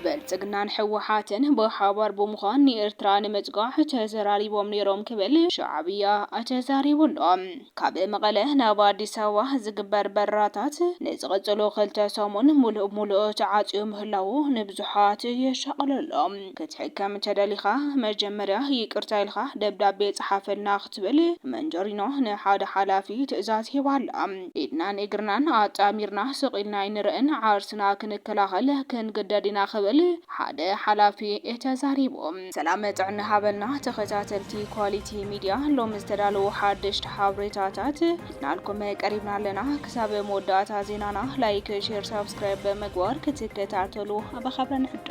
ብልፅግናን ህወሓትን ብሓባር ብምዃን ንኤርትራ ንምፅጋዕ ተዘራሪቦም ነይሮም ክብል ሻዕብያ ተዛሪቡ ኣሎ። ካብ መቐለ ናብ ኣዲስ ኣበባ ዝግበር በረራታት ንዝቕፅሉ ክልተ ሰሙን ሙሉእ ብሙሉእ ተዓፅዩ ምህላዉ ንብዙሓት የሻቕሎ ኣሎ። ክትሕከም እንተደሊኻ መጀመርያ ይቅርታ ኢልኻ ደብዳቤ ጽሓፈልና ክትብል መንጀሪኖ ንሓደ ሓላፊ ትእዛዝ ሂባ ኣላ። ኢድናን እግርናን ኣጣሚርና ስቕ ኢልና ኣይንርእን፣ ዓርስና ክንከላኸል ክንግደድ ኢና ክብል ሓደ ሓላፊ ተዛሪቡ። ሰላም ጥዕና ሃበልና ተኸታተልቲ ኳሊቲ ሚድያ ሎሚ ዝተዳለዉ ሓደሽቲ ሓብሬታታት። ናልኩም ቀሪብና ኣለና ክሳብ መወዳእታ ዜናና ላይክ ሼር ሳብስክራይብ ብምግባር ክትከታተሉ ብኸብረ ንሕዶ።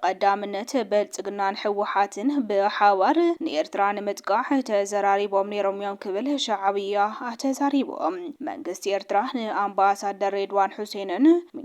ብቐዳምነት ብልፅግናን ህወሓትን ብሓባር ንኤርትራ ንምጥቃዕ ተዘራሪቦም ነይሮም እዮም ክብል ሻዕብያ ተዛሪቡ። መንግስቲ ኤርትራ ንኣምባሳደር ሬድዋን ሑሴንን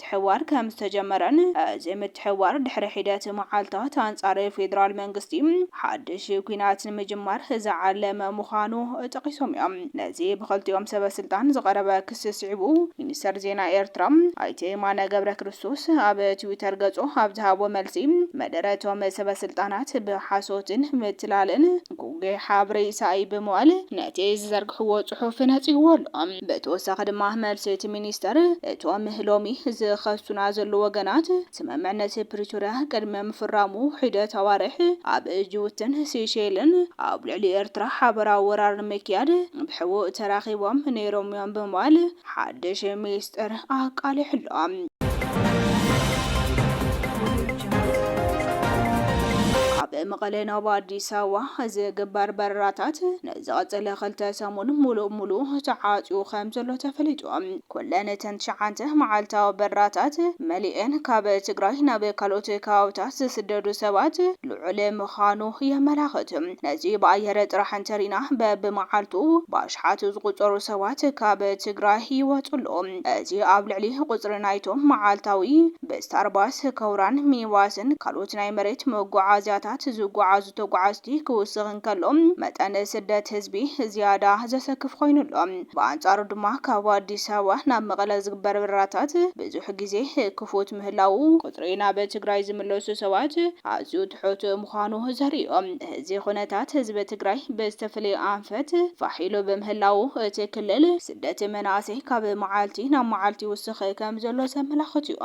ምትሕብባር ከም ዝተጀመረን፣ እዚ ምትሕብባር ድሕሪ ሒደት መዓልታት ኣንጻር ፌደራል መንግስቲ ሓድሽ ኲናት ንምጅማር ዝዓለመ ምዃኑ ጠቒሶም እዮም። ነዚ ብኽልቲኦም ሰበስልጣን ዝቐረበ ክሲ ስዒቡ፣ ሚኒስተር ዜና ኤርትራ ኣይተ የማነ ገብረክርስቶስ ኣብ ትዊተር ገጹ ኣብ ዝሃቦ መልሲ፣ መደረ'ቶም ሰበስልጣናት ብሓሶትን ምትላልን፣ ጉግይ ሓብሪ ኢሳኢ ብምባል ነቲ ዝዘርግሕዎ ጽሑፍ ነጺግዎ ኣሎ። ብተወሳኺ ድማ መልሲ እቲ ሚኒስተር፣ እቶም ሎሚ ዝኸሱና ዘለዉ ወገናት፣ ስምምዕነት ፕሪቶርያ ቅድሚ ምፍራሙ ሒደት ኣዋርሕ ኣብ ጅቡትን ሲሸይልን ኣብ ልዕሊ ኤርትራ ሓበራዊ ወራር ንምክያድ ብሕቡእ ተራኺቦም ነይሮም'ዮም ብምባል ሓድሽ ሚስጥር ኣቃሊሑ ኣሎ። ካብ መቐለ ናብ ኣዲስ ኣበባ ዝግበር በረራታት ንዝቐፅለ ክልተ ሰሙን ሙሉእ ሙሉእ ተዓፅዩ ከም ዘሎ ተፈሊጡ። ኩለን እተን ትሽዓተ መዓልታዊ በረራታት መሊኤን ካብ ትግራይ ናብ ካልኦት ከባብታት ዝስደዱ ሰባት ልዑል ምዃኑ የመላኽት። ነዚ ብኣየር ጥራሕ እንተሪእና በብመዓልቱ ብኣሽሓት ዝቑጸሩ ሰባት ካብ ትግራይ ይወጹ ኣለዉ። እዚ ኣብ ልዕሊ ቁጽሪ ናይቶም መዓልታዊ ብስታርባስ፣ ከውራን፣ ሚኒባስን ካልኦት ናይ መሬት መጓዓዝያታት ዝጓዓዙ ተጓዓዝቲ ክውስኽ እንከሎ፣ መጠን ስደት ህዝቢ ዝያዳ ዘሰክፍ ኮይኑ ኣሎ። ብኣንጻሩ ድማ ካብ ኣዲስ ኣበባ ናብ መቐለ ዝግበር በረራታት ብዙሕ ግዜ ክፉት ምህላዉ፣ ቁጽሪ ናብ ትግራይ ዝምለሱ ሰባት ኣዝዩ ትሑት ምዃኑ ዘርኢ'ዩ። እዚ ኩነታት ህዝቢ ትግራይ ብዝተፈለዩ ኣንፈት ፋሕ ኢሉ ብምህላዉ እቲ ክልል ስደት መናእሰይ ካብ መዓልቲ ናብ መዓልቲ ይውስኽ ከምዘሎ ዘመላኽት እዩ።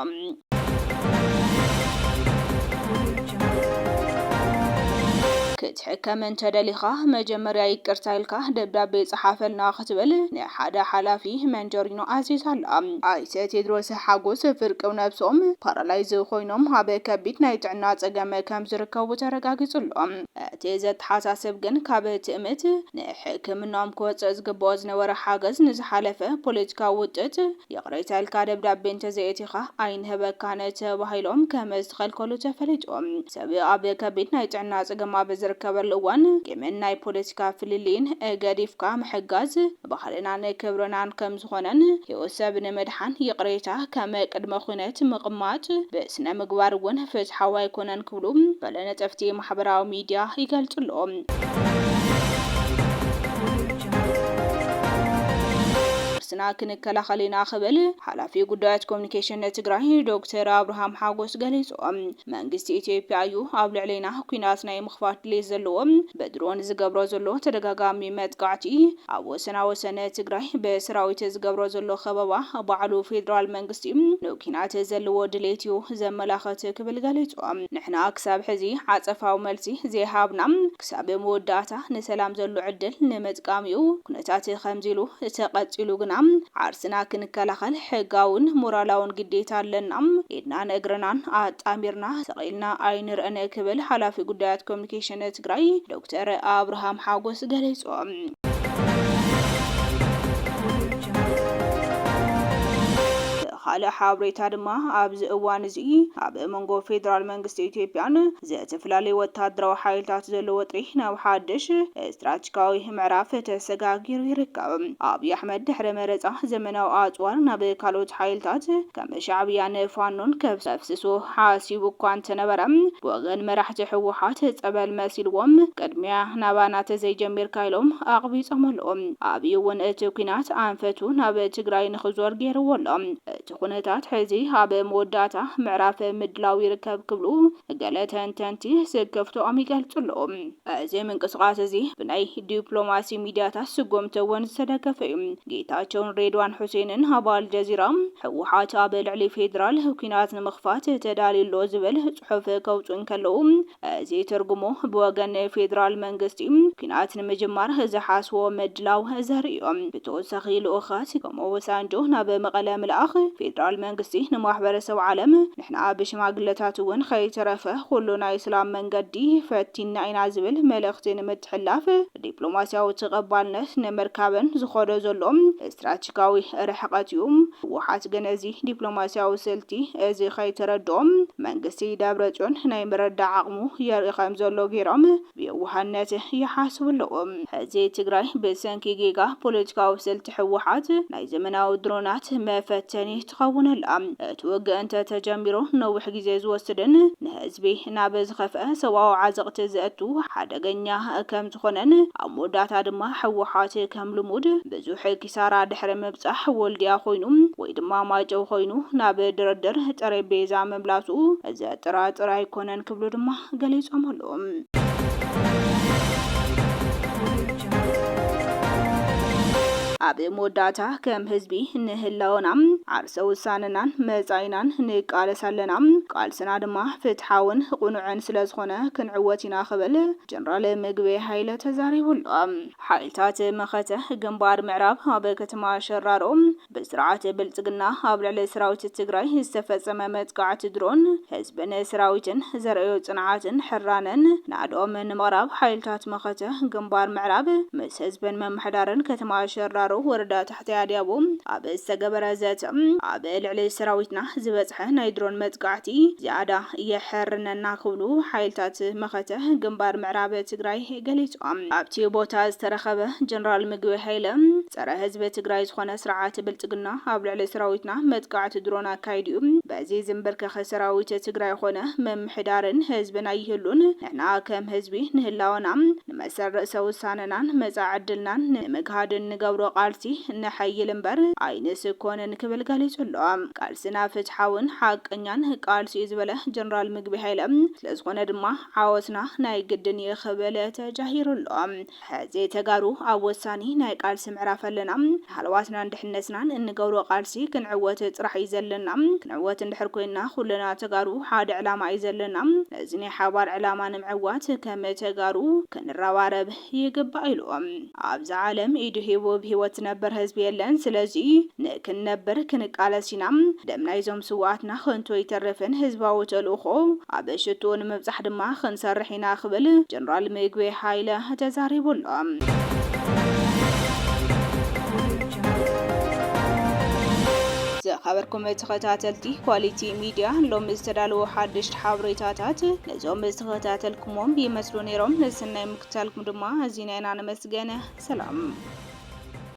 ክትሕከም እንተደሊኻ መጀመርያ ይቅርታ ኢልካ ደብዳቤ ፀሓፈልና ክትብል ንሓደ ሓላፊ መንጀሪኖ ኣዚዛ ኣላ። ኣይተ ቴድሮስ ሓጎስ ፍርቂ ነብሶም ፓራላይዝ ኮይኖም ኣብ ከቢድ ናይ ጥዕና ጸገም ከም ዝርከቡ ተረጋጊጹ ኣሎ። እቲ ዘተሓሳስብ ግን ካብ ትእምት ንሕክምናኦም ክወጽእ ዝግብኦ ዝነበረ ሓገዝ ንዝሓለፈ ፖለቲካዊ ውጥጥ ይቕሬታ ኢልካ ደብዳቤ እንተዘየእቲኻ ኣይንህበካን ተባሂሎም ከም ዝተኸልከሉ ተፈሊጡ። ሰብ ኣብ ከቢድ ናይ ጥዕና ጸገም ኣብ ዝርከበሉ እዋን ቂምን ናይ ፖለቲካ ፍልልይን ገዲፍካ ምሕጋዝ ባህልናን ክብርናን ከም ዝኾነን ህይወት ሰብ ንምድሓን ይቕሬታ ከም ቅድመ ኹነት ምቕማጥ ብስነ ምግባር እውን ፍትሓዊ ኣይኮነን ክብሉ ገለ ነጠፍቲ ማሕበራዊ ሚዲያ ይገልፁ ኣለዉ። ርእስና ክንከላኸል ኢና ክብል ሓላፊ ጉዳያት ኮሚኒኬሽን ትግራይ ዶክተር ኣብርሃም ሓጎስ ገሊፆም። መንግስቲ ኢትዮጵያ እዩ ኣብ ልዕሌና ኲናት ናይ ምኽፋት ድሌት ዘለዎ። ብድሮን ዝገብሮ ዘሎ ተደጋጋሚ መጥቃዕቲ፣ ኣብ ወሰና ወሰን ትግራይ ብሰራዊት ዝገብሮ ዘሎ ከበባ ባዕሉ ፌደራል መንግስቲ ንኲናት ዘለዎ ድሌት እዩ ዘመላኽት ክብል ገሊጹ። ንሕና ክሳብ ሕዚ ዓጸፋዊ መልሲ ዘይሃብና። ክሳብ መወዳእታ ንሰላም ዘሎ ዕድል ንመጥቃሚኡ ኩነታት ከምዚ ኢሉ ተቐጺሉ ግና ዓርስና ክንከላኸል ሕጋውን ሞራላውን ግዴታ ኣለና፣ ኢድናን እግርናን ኣጣሚርና ስቕ ኢልና ኣይንርእን ክብል ሓላፊ ጉዳያት ኮሚኒኬሽን ትግራይ ዶክተር ኣብርሃም ሓጎስ ገሊጹ። ብኻልእ ሓብሬታ ድማ ኣብዚ እዋን እዚ ኣብ መንጎ ፌደራል መንግስቲ ኢትዮጵያን ዘተፈላለዩ ወታደራዊ ሓይልታት ዘሎ ወጥሪ ናብ ሓድሽ ስትራትጂካዊ ምዕራፍ ተሰጋጊሩ ይርከብ። ኣብይ ኣሕመድ ድሕሪ መረጻ ዘመናዊ ኣጽዋር ናብ ካልኦት ሓይልታት ከም ሻዕብያን ፋኖን ከፍስሶ ሓሲቡ እኳ እንተነበረ ብወገን መራሕቲ ህወሓት ጸበል መሲልዎም ቅድሚያ ናባና ተዘይጀሚርካ ኢሎም ኣቕቢጾሞ ኣለዉ። ኣብይ እውን እቲ ኲናት ኣንፈቱ ናብ ትግራይ ንኽዞር ገይርዎ ኣሎ። ኩነታት ሕዚ ኣብ መወዳእታ ምዕራፍ ምድላው ይርከብ ክብሉ ገለ ተንተንቲ ስክፍትኦም ይገልጹ ኣለዉ። እዚ ምንቅስቓስ እዚ ብናይ ዲፕሎማሲ ሚድያታት ስጉምቲ እውን ዝተደገፈ እዩ። ጌታቸውን ሬድዋን ሑሴንን ኣብ ኣልጀዚራ፣ ህወሓት ኣብ ልዕሊ ፌዴራል ኲናት ንምኽፋት ተዳልዩ ኣሎ ዝብል ጽሑፍ ከውጽኡ እንከለዉ፣ እዚ ትርጉሙ ብወገን ፌደራል መንግስቲ ኲናት ንምጅማር ዝሓስቦ ምድላው ዘርኢዮ። ብተወሳኺ ልኡኻት ከም ኦበሳንጆ ናብ መቐለ ምልኣኽ ፌደራል መንግስቲ ንማሕበረሰብ ዓለም ንሕና ብሽማግለታት እውን ከይተረፈ ኩሉ ናይ ስላም መንገዲ ፈቲንና ኢና ዝብል መልእኽቲ ንምትሕልላፍ ዲፕሎማሲያዊ ተቐባልነት ንምርካብን ዝኾዶ ዘሎ ስትራቴ ፖለቲካዊ ርሕቐት እዩ። ህወሓት ግን እዚ ዲፕሎማሲያዊ ስልቲ እዚ ከይተረድኦ መንግስቲ ደብረፅዮን ናይ ምርዳእ ዓቕሙ የርኢ ከምዘሎ ገይሮም ብየዋህነት ይሓስቡ ኣለዉ። ሕዚ ትግራይ ብሰንኪ ጌጋ ፖለቲካዊ ስልቲ ህወሓት ናይ ዘመናዊ ድሮናት መፈተኒ ትኸውን ኣላ። እቲ ውግእ እንተ ተጀሚሩ ነዊሕ ግዜ ዝወስድን ንህዝቢ ናብ ዝኸፍኣ ሰብኣዊ ዓዘቕቲ ዘእቱ ሓደገኛ ከም ዝኾነን ኣብ መወዳእታ ድማ ህወሓት ከም ልሙድ ብዙሕ ኪሳራ ድሕሪ ምብጻሕ ወልድያ ኮይኑ ወይ ድማ ማይጨው ኮይኑ ናብ ድርድር ጠሬቤዛ ምምላሱ ዘጠራጥር ኣይኮነን ክብሉ ድማ ገሊፆም ኣለው። ኣብ መወዳእታ ከም ህዝቢ ንህላወና ዓርሰ ውሳነናን መፃኢናን ንቃለስ ኣለና። ቃልስና ድማ ፍትሓውን ቁኑዕን ስለዝኾነ ክንዕወት ኢና ክብል ጀነራል ምግበይ ሃይለ ተዛሪቡ ኣሎ። ሓይልታት መኸተ ግንባር ምዕራብ ኣብ ከተማ ሸራሮ ብስርዓት ብልፅግና ኣብ ልዕሊ ሰራዊት ትግራይ ዝተፈፀመ መጥቃዕቲ ድሮን ህዝብን ሰራዊትን ዘርእዮ ፅንዓትን ሕራነን ናእድኦም ንምቕራብ ሓይልታት መኸተ ግንባር ምዕራብ ምስ ህዝብን ምምሕዳርን ከተማ ሸራሮ ወረዳ ታሕታይ ኣድያቦ ኣብ ዝተገበረ ዘተ ኣብ ልዕሊ ሰራዊትና ዝበፅሐ ናይ ድሮን መጥቃዕቲ ዝያዳ የሐርነና ክብሉ ሓይልታት መኸተ ግንባር ምዕራብ ትግራይ ገሊፆም። ኣብቲ ቦታ ዝተረኸበ ጀነራል ምግበይ ሃይለ፣ ፀረ ህዝቢ ትግራይ ዝኾነ ስርዓት ብልፅግና ኣብ ልዕሊ ሰራዊትና መጥቃዕቲ ድሮን ኣካይዱ ዩ፣ በዚ ዝምብርከኽ ሰራዊት ትግራይ ኾነ ምምሕዳርን ህዝብን ኣይህሉን፣ ንሕና ከም ህዝቢ ንህላወና፣ መሰል ርእሰ ውሳነናን መጻኢ ዕድልናን ንምግሃድ እንገብሮ ቃልሲ ነሐይል እምበር ኣይንስኮንን ክብል ገሊጹ ኣሎ። ቃልስና ፍትሓውን ሓቀኛን ቃልሲ'ዩ ዝበለ ጀነራል ምግበይ ሃይለ፣ ስለዝኾነ ድማ ዓወትና ናይ ግድን እዩ ክብል ተጃሂሩ ኣሎ። ሕዚ ተጋሩ ኣብ ወሳኒ ናይ ቃልሲ ምዕራፍ ኣለና። ንሃለዋትናን ድሕነትናን እንገብሮ ቃልሲ ክንዕወት ጥራሕ እዩ ዘለና። ክንዕወት እንድሕር ኮይንና ኩልና ተጋሩ ሓደ ዕላማ እዩ ዘለና። ነዚ ናይ ሓባር ዕላማ ንምዕዋት ከም ተጋሩ ክንረባረብ ይግባእ ኢሉ። ኣብዛ ዓለም ኢዱ ሂቡ ብሂወት ዝነብር ህዝቢ የለን። ስለዚ ንክንነብር ክንቃለስ ኢና። ደም ናይዞም ስውኣትና ከንቱ ኣይተርፍን። ህዝባዊ ተልእኾ ኣብ ሽትኡ ንምብፃሕ ድማ ክንሰርሕ ኢና። ኢና ክብል ጀነራል ሚጉዌ ሃይለ ተዛሪቡ ኣሎ። ዝኸበርኩም ተኸታተልቲ ኳሊቲ ሚድያ ሎሚ ዝተዳለዉ ሓደሽቲ ሓበሬታታት ነዞም ዝተኸታተልኩሞም ይመስሉ ነይሮም። ንስናይ ምክትታልኩም ድማ ኣዚና ኢና ነመስገን። ሰላም።